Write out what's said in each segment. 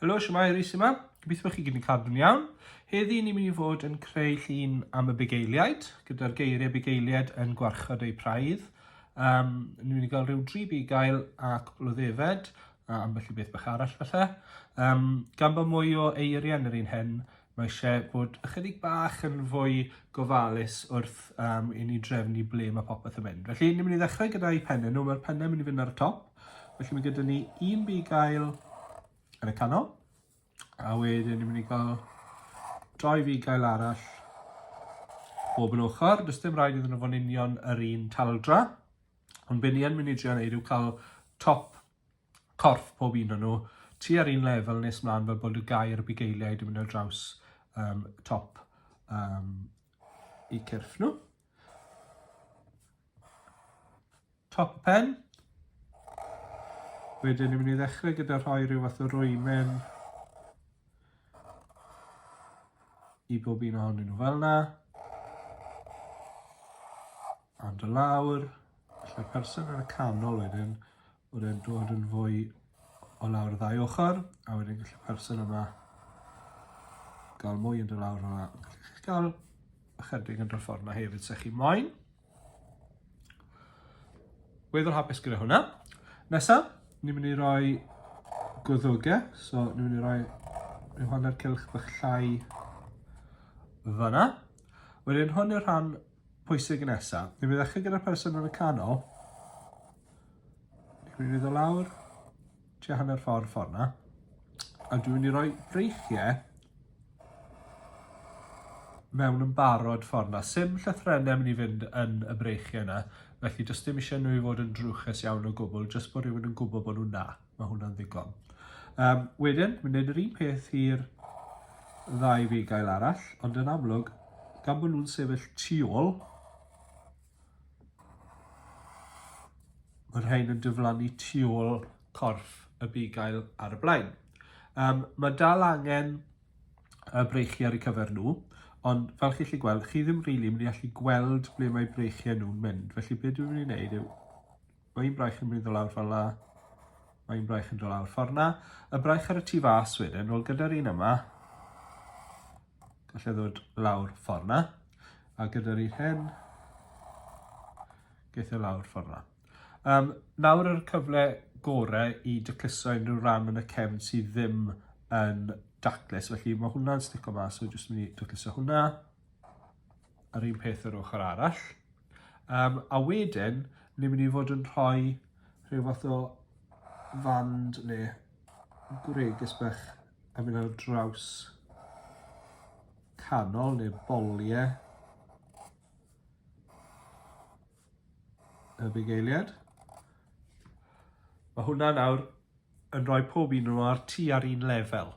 Helo, siwmai, Rhys yma. Gobeithio bod chi gyd yn cadw'n iawn. Heddi ni'n mynd i fod yn creu llun am y bugeiliaid, gyda'r geiriau bugeiliaid yn gwarchod eu praidd. Um, ni'n mynd i gael rhyw dri bugail a cwpl o ddefed, a ambell i beth bach arall falle. Um, gan bod mwy o eiriau yn yr un hyn, Mae eisiau bod ychydig bach yn fwy gofalus wrth um, i ni drefnu ble mae popeth yn mynd. Felly, ni'n mynd i ddechrau gyda'i pennau nhw. Mae'r pennau mynd i fynd ar y top. Felly mae gyda ni un bugail yn y canol. A wedyn ni'n mynd i gael doi fugail arall bob yn ochr. Does dim rhaid iddyn nhw fod yn union yr un taldra. Ond be ni yn mynd i drio wneud yw cael top corff pob un o nhw tua'r un lefel nes mlaen fel bod y gair bugeiliaid yn mynd ar draws um, top um, i cyrff nhw. Top y pen. Wedyn ni'n mynd i ddechrau gyda rhoi rhyw fath o rwymen i bob un ohonyn nhw fel yna. A dy lawr, felly'r person yn y canol wedyn, bod e'n dod yn fwy o lawr y ddau ochr, a wedyn gallu person yma gael mwy yn dy lawr yma. Gallu chi'ch gael ychydig yn dod ffordd yma hefyd, sech chi moyn. Weddol hapus gyda hwnna. Nesa, ni'n mynd i roi gwddwgau, so ni'n mynd i roi rhyw hanner cilch bych llai fyna. Wedyn hwn yw'r rhan pwysig nesa. Ni'n mynd i ddechrau gyda'r person yn y canol. Ni'n mynd i ddod lawr tua hanner ffordd ffordd na. A dwi'n mynd i roi breichiau mewn yn barod ffordd na. Sim llythrenau mynd i fynd yn y breichiau yna, felly jyst dim eisiau nhw i fod yn drwchus iawn o gwbl, jyst bod rhywun yn gwybod bod nhw'n na. Mae hwnna'n ddigon. Um, wedyn, mae'n gwneud yr un peth i'r ddau fi gael arall, ond yn amlwg, gan bod nhw'n sefyll tu ôl, mae'r rhain yn diflannu tu ôl corff y bugail ar y blaen. Um, mae dal angen y breichiau ar y cyfer nhw, ond fel chi'n gallu gweld, chi ddim rili really mynd i allu gweld ble mae breichiau nhw'n mynd, felly beth dwi'n mynd i wneud yw Mae un braich yn mynd o lawr fel la. Mae un braich yn dod lawr ffordd na. Y braich ar y tu fas wedyn, nôl gyda'r un yma. Gallai ddod lawr ffordd na. A gyda'r un hyn, geithio lawr ffordd na. Um, nawr yr cyfle gorau i dycluso unrhyw ran yn y cefn sydd ddim yn daclus. Felly mae hwnna'n stico mas, so jyst mynd i dycluso hwnna. Yr un peth yr ochr arall. Um, a wedyn, ni'n mynd i fod yn rhoi rhyw fath o fand neu gwregys bach a mynd ar draws canol neu boliau y bugeiliad. Mae hwnna nawr yn rhoi pob un nhw ar tu ar un lefel.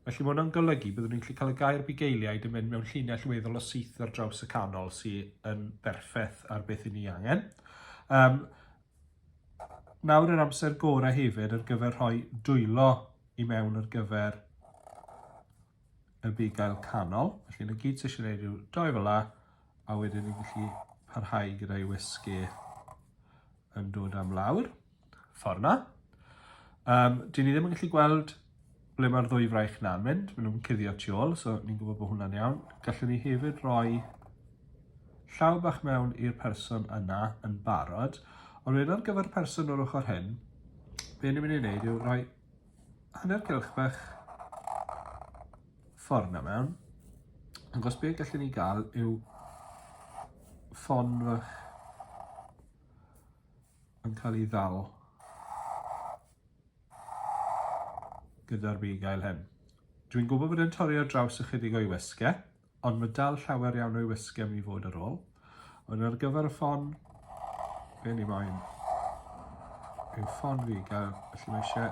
Felly mae hwnna'n golygu byddwn ni'n gallu cael y gair bugeiliaid yn mynd mewn llinell weddol o syth ar draws y canol sy'n yn berffaith ar beth i ni angen. Um, nawr yr amser gorau hefyd ar gyfer rhoi dwylo i mewn ar gyfer y bugail canol. Felly na gyd ti eisiau gwneud yw doi fel la, a wedyn ni'n gallu parhau gyda'i wysgu yn dod am lawr, ffordd na. Um, dyn ni ddim yn gallu gweld ble mae'r ddwy fraich na'n mynd, maen nhw'n cuddio tu ôl, so ni'n gwybod bod hwnna'n iawn. Gallwn ni hefyd roi llaw bach mewn i'r person yna yn barod, ond wedyn ar gyfer person o'r ochr hyn, be ni'n mynd i wneud yw rhoi hanner cylch bach ffordd na mewn. Agos be gallwn ni gael yw ffon fach yn cael ei ddal gyda'r bugail hyn. Dwi'n gwybod bod e'n torri ar draws ychydig o'i wesgau, Ond mae dal llawer iawn o'i wysgem i fod ar ôl. Ond ar gyfer y ffon, be ni moyn yw ffon fi gael, felly mae eisiau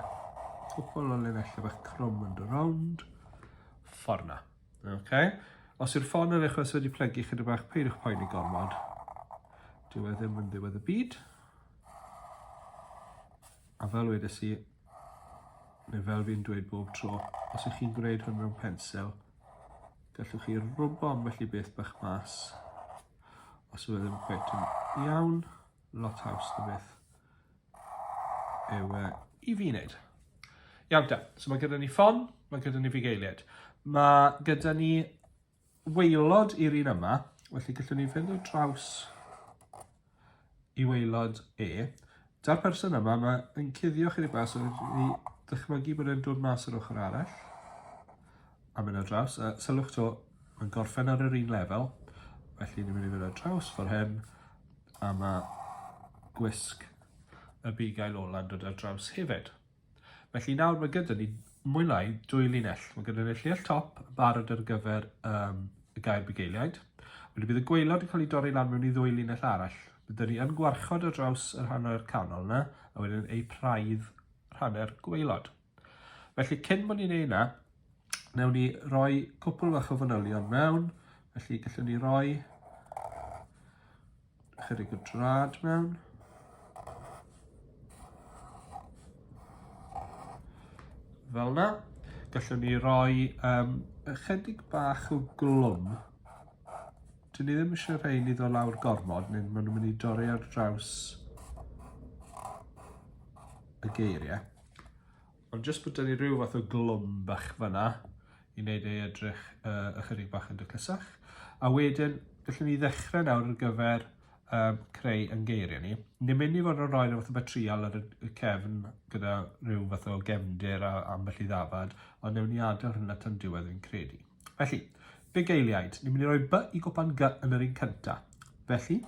cwpl o linellau bach crwm yn dy rownd. Fforna. Okay. Os yw'r ffon yn eich wedi plygu chyda bach, peidiwch poen i gormod. Dyw e ddim yn ddiwedd y byd. A fel wedi si, neu fel fi'n dweud bob tro, os ych chi'n gwneud hwn mewn pensel, Gallwch chi rwbo ambell i beth bach mas os yw e ddim cweit yn iawn, lot haws na beth yw e i fi wneud. Iawn da, so mae gyda ni ffon, mae gyda ni fugeiliaid. Mae gyda ni weilod i'r un yma, felly gallwn ni fynd o draws Y waelod E. Da'r person yma, mae yn cuddio chydig bach, so ni ddychmygu bod e'n dod mas yr ochr arall. A mynd ar draws, a sylwch to, mae'n gorffen ar yr un lefel. Felly ni'n mynd i fynd ar draws ffordd hyn, a mae gwisg y bugail ola'n dod ar draws hefyd. Felly nawr mae gyda ni mwy lai dwy linell. Mae gyda ni'r llinell top yn barod ar gyfer um, y gair bugeiliaid. Wedyn bydd y gweilod yn cael ei dorri lan mewn i ddwy linell arall. Byddwn ni yn gwarchod ar draws yr hanner canol yna, a wedyn ei praidd rhanner gweilod. Felly cyn bod ni'n ei yna, newn ni roi cwpl fach o fanylion mewn, felly gallwn ni roi Chydig o drad mewn. Fel na. Gallwn ni roi um, ychydig bach o glwm. Dyn ni ddim eisiau rhaid i ddod lawr gormod, neu maen nhw'n mynd i dorri ar draws y geiriau. Ond jyst bod 'da ni rhyw fath o glwm bach fanna i wneud ei edrych uh, ychydig bach yn dyclysach. A wedyn, gallwn ni ddechrau nawr ar gyfer um, creu yn geiriau ni. Ni'n mynd i fod yn rhoi rhywbeth o batrial ar y cefn gyda rhyw fath o gefndir a ambell i ddafad, ond newn ni adael hynna tan diwedd fi'n credu. Felly, big eiliaid, ni'n mynd i roi by i gwpan gy yn yr un cyntaf. Felly,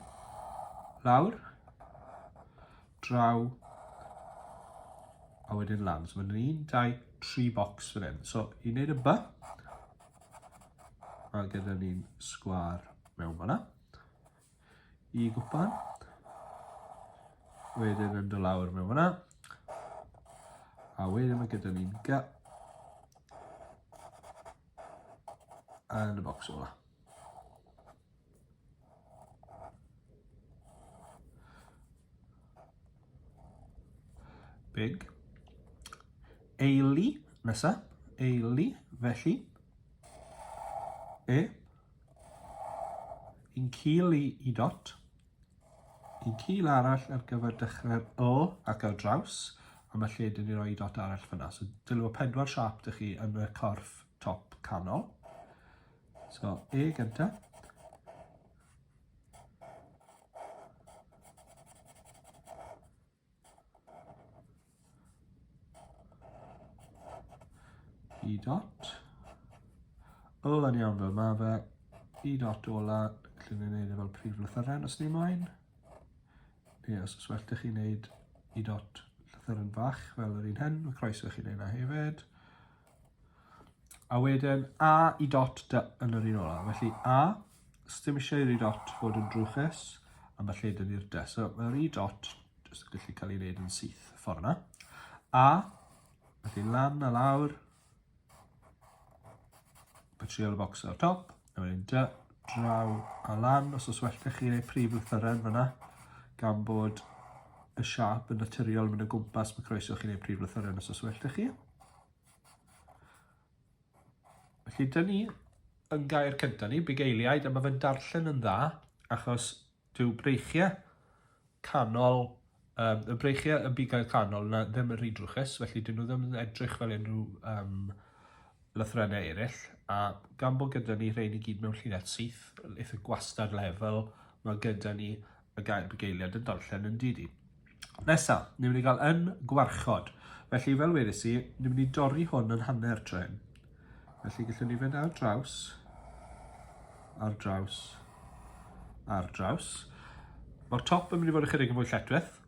lawr, draw a wedyn lan. So mae'n un, un, dau, tri bocs fan hyn. So i wneud y by, mae gyda ni'n sgwar mewn fanna. I gwpan, wedyn yn dy lawr mewn fanna. A wedyn mae gyda ni'n gy. Yn y bocs o'na. Big. Eili, nesa. Eili, felly. E. Yn cil i, i dot. Yn cil arall ar gyfer dechrau'r O ac ar draws. A mae lle dyn ni roi dot arall fyna. So dylw pedwar siap dych chi yn y corff top canol. So, E gyntaf. E dot. Ol yn iawn fel mae fe. E dot ola, lle ni'n neud e fel prif lythyren os ni moyn. Ie, os oes well da chi'n neud E dot llythyren fach fel yr un hyn, mae croeso chi neud na hefyd. A wedyn A i dot dy yn yr un ola. Felly A, sdim eisiau i'r i dot fod yn drwchus, a mae lle dyn ni'r dy. So mae'r i dot jyst yn gallu cael ei wneud yn syth y ffordd yna. A, felly lan a lawr, material box ar top. A wedyn dy, draw a lan, os oes well da chi neu prif lythyren fyna, gan bod y siap yn naturiol mynd o gwmpas, mae croeso chi neu prif lythyren os oes well da chi. Felly, dyn ni yn gair cyntaf ni, bugeiliaid, a mae fe'n darllen yn dda, achos Dyw breichiau canol, um, y breichiau yn bigau canol na ddim yn rhy drwchus, felly dyn nhw ddim yn edrych fel unrhyw um, lythrennau eraill, a gan bod gyda ni rhain i gyd mewn llinell syth, eitha gwastad lefel, mae gyda ni y gair bugeiliad yn darllen yn didi. Nesa, ni'n mynd i gael yn gwarchod. Felly, fel wedys i, ni'n mynd i dorri hwn yn hanner tren. Felly, gallwn ni fynd ar draws, ar draws, ar draws. Mae'r top yn mynd i fod ychydig yn fwy lletweth.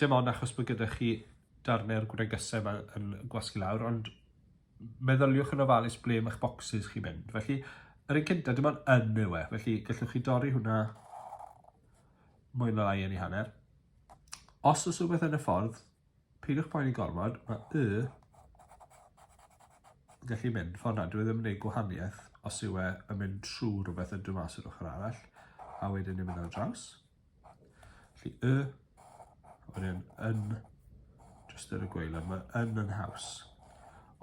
Dim ond achos bod gyda chi darnau'r gwregysau yma yn gwasgu lawr, ond meddyliwch yn ofalus ble mae'ch bocsys chi'n mynd. Felly, yr un cyntaf, dim ond yn yw e. Felly, gallwch chi dorri hwnna mwy na lai yn ei hanner. Os oes rhywbeth yn y ffordd, peidiwch poeni gormod, mae y yn gallu mynd ffordd na, dwi ddim yn ei gwahaniaeth os yw e yn mynd trwy rhywbeth yn dwi mas o'r ochr arall, a wedyn yn mynd ar draws. Felly y, a wedyn yn, jyst yr y gweilod, mae yn yn haws.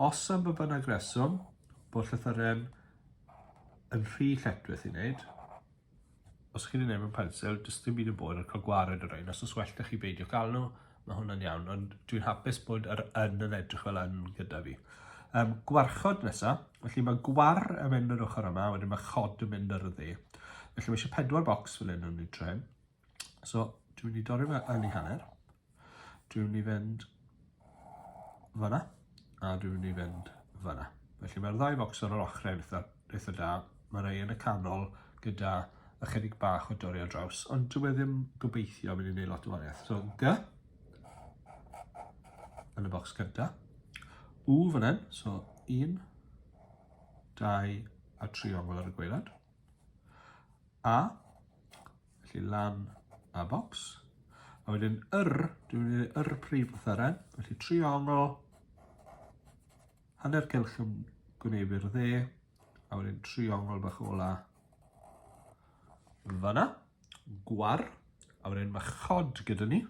Os am y bynnag reswm, bod llythyren yn rhy lletwith i wneud, Os ych chi'n ei wneud mewn pensil, does dim byd yn bod yn cael gwared o rhain, os oes well da chi beidio cael nhw, mae hwnna'n iawn, ond dwi'n hapus bod yr yn yn edrych fel yn gyda fi. Um, gwarchod nesaf, felly mae gwar yn mynd yr ochr yma, wedyn mae chod yn mynd yr y dde. Felly mae eisiau pedwar bocs fel hyn yn ei tren. So, dwi'n mynd i dorri fe yn ei hanner. Dwi'n mynd i fynd fyna, a dwi'n mynd i fynd fyna. Felly mae'r ddau focs ar yr ochrau yn eitha, eitha da. Mae rhai yn y canol gyda ychydig bach o dorri ar draws, ond dwi'n e ddim gobeithio mynd i wneud lot o wariaeth. So, G, yn y bocs gyda. U fan hyn, so 1, 2 a triongl ar y gweilad. A, felly lan a bocs. A wedyn yr, dwi'n mynd i ddweud yr prif lythyren, felly triongl, hanner cylch yn gwneud i'r dde, a wedyn triongl bach ola fanna, gwar, a wedyn mae chod gyda ni,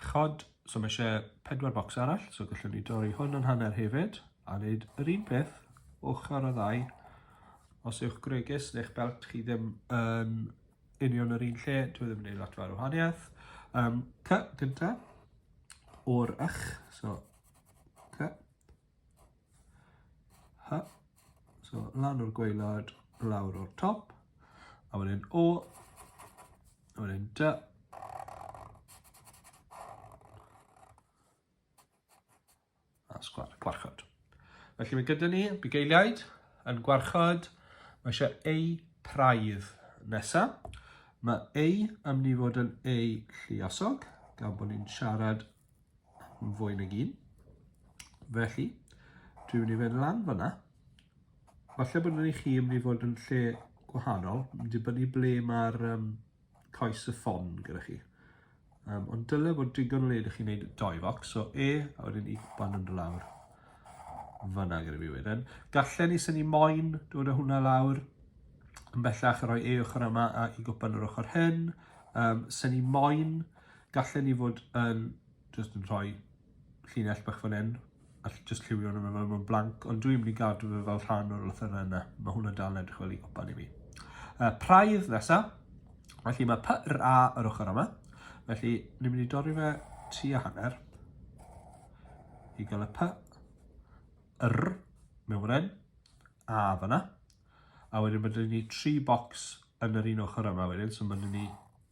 Chod, so mae eisiau pedwar bocs arall, so gallwn ni dorri hwn yn hanner hefyd, a wneud yr un peth, ochr o ddau. Os yw'ch gwregys neu'ch belt chi ddim yn union yr un lle, dwi ddim yn gwneud lot fawr o wahaniaeth. Um, cy, gyntaf, o'r ych, so cy, Ha. So, lan o'r gweilad, lawr o'r top. A wedyn O. A wedyn Dy. A sgwar, gwarchod. Felly mae gyda ni bugeiliaid yn gwarchod. Mae eisiau eu praidd nesaf. Mae eu am ni fod yn eu lliosog, gan bod ni'n siarad fwy nag un. Felly, dwi'n mynd i fynd lan fyna. Falle bod yn i chi yn mynd i fod yn lle gwahanol, yn dibynnu ble mae'r um, coes y ffon gyda chi. Um, ond dyle fod digon le ydych chi'n gwneud doi foc, so E, a wedyn i ban yn lawr. Fyna gyda fi wedyn. Gallen ni syni moyn dod o hwnna lawr, yn bellach rhoi E ochr yma a i gwpan yr ochr hyn. Um, syni moyn Gallen ni fod yn jyst yn rhoi llinell bach fan hyn a jyst lliwio hwnna fel mae'n blanc, ond dwi'n mynd i gadw fe fel rhan o'r lythyrau yna. Mae hwnna dal edrych fel i gopan i mi. Uh, praidd nesa. Felly mae py r a yr ochr yma. Felly, ni'n mynd i dorri fe tu a hanner. I gael y py r mewn fan a fyna. A wedyn byddwn ni tri bocs yn yr un ochr yma wedyn, so byddwn ni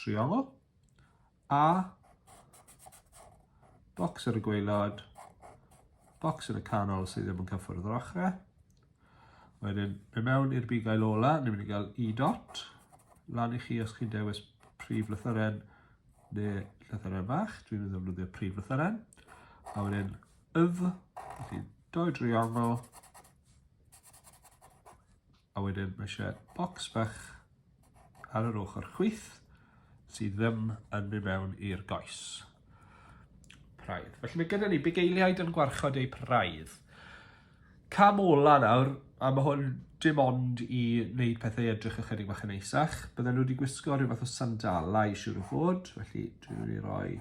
Triolo. A. Bocs ar y gweilod. Bocs yn y canol sydd ddim yn cyffwrdd yr ochrau. Wedyn, fe mewn i'r bugail ola, ni'n mynd i gael E dot. Lan i chi os chi'n dewis prif lythyren neu lythyren fach. Dwi'n mynd i ddefnyddio prif lythyren. A wedyn, yf, felly, doi driongl, A wedyn mae eisiau bocs bach ar yr ochr chwith sydd ddim yn mynd mewn i'r goes. Praidd. Felly mae gyda ni bugeiliaid yn gwarchod eu praidd. Cam ola nawr, a mae hwn dim ond i wneud pethau edrych ychydig bach yn eisach. Bydden nhw wedi gwisgo rhyw fath o sandalau, siwr o fod. Felly, dwi'n mynd i roi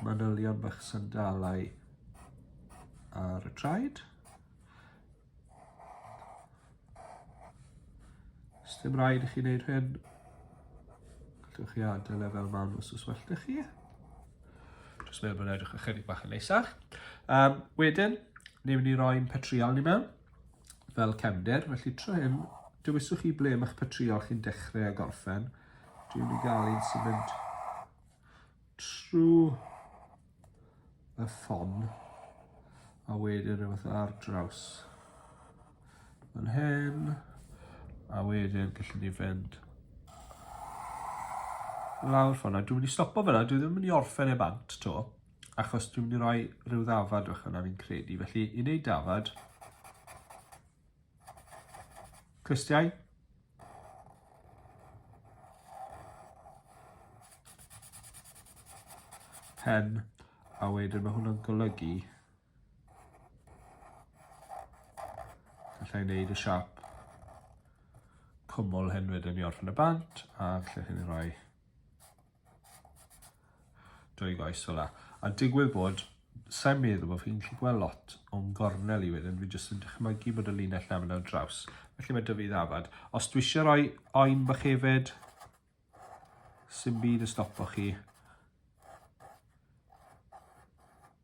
manylion bach sandalau ar y traed. Os dim rhaid i chi wneud hyn, gallwch chi adael e fel ma'n os oes well da chi. Just meddwl bod edrych ychydig bach yn neisach. Um, wedyn, ni'n mynd i roi'n petriol ni mewn, fel cefndir, felly tro hyn, dywiswch chi ble mae'ch petriol chi'n dechrau a gorffen. Dwi'n mynd i gael un sy'n mynd trwy y ffon a wedyn rhywbeth ar draws yn hyn a wedyn gallwn ni fynd lawr ffona. Dwi'n mynd i stopo fyna, dwi ddim yn mynd i orffen e bant to achos dwi'n mynd i roi rhyw ddafad o'ch yna fi'n credu. Felly i wneud dafad Clystiau. Pen, a wedyn mae hwnna'n golygu gallai wneud y siap cwmwl hyn wedyn i orffen y bant a lle hyn i roi Drwy goes ola. A digwydd bod, sa'n meddwl bod fi'n gallu gweld lot o'n gornel i wedyn, fi jyst yn dychmygu bod y linell na fyna draws. Felly mae dyfu ddafad. Os dwi eisiau rhoi oen bych hefyd, sy'n byd y stopo chi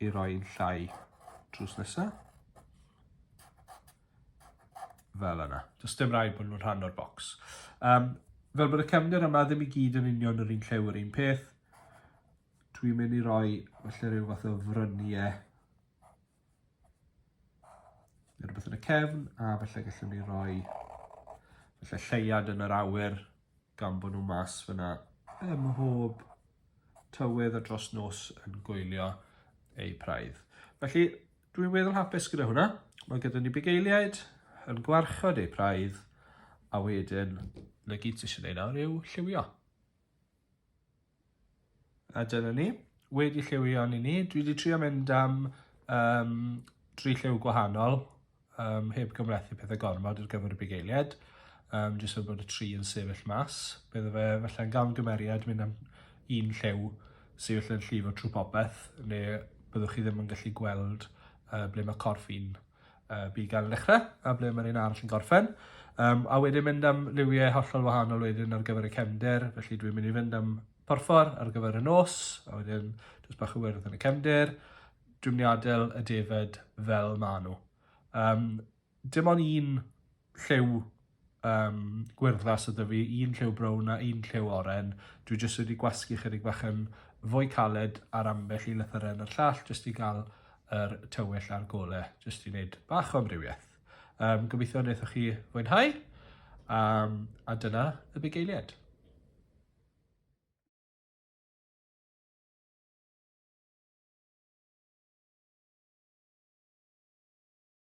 i roi'n llai drws nesaf. fel yna. Does dim rhaid bod nhw'n rhan o'r bocs. Um, fel bod y cefnir yma ddim i gyd yn union yr un llew yr un peth, dwi'n mynd i roi felly rhyw fath o fryniau neu rhywbeth yn y cefn, a felly gallwn ni roi felly lleiad yn yr awyr gan bod nhw mas fyna ym mhob tywydd a dros nos yn gwylio eu praidd. Felly, Dwi'n weddol hapus gyda hwnna. Mae gyda ni bugeiliaid yn gwarchod eu praidd a wedyn na gyd sy'n eisiau ei nawr yw lliwio. A dyna ni. Wedi lliwio ni ni. Dwi wedi trio mynd am um, tri lliw gwahanol um, heb gymlethu pethau gormod ar gyfer y bugeiliaid. Um, jyst fel bod y tri yn sefyll mas. Bydde fe felly'n gamgymeriad mynd am un lliw sefyll yn llifo trwy popeth, le byddwch chi ddim yn gallu gweld uh, ble mae corff un uh, bugail yn dechrau a ble mae'r un arall yn gorffen. Um, a wedyn mynd am liwiau hollol wahanol wedyn ar gyfer y cefnder, felly dwi'n mynd i fynd am porffor ar gyfer y nos, a wedyn jyst bach o wyrdd yn y cefnder, dwi'n mynd i adael y defed fel maen nhw. Um, Dim ond un lliw um, gwyrddlas ydy fi, un lliw brown a un lliw oren. Dwi jyst wedi gwasgu chydig bach yn fwy caled ar ambell i lythyren a'r llall jyst i gael yr tywyll a'r gole, jyst i wneud bach o amrywiaeth. Um, gobeithio wnaethoch chi fwynhau, um, a dyna y bugeiliad.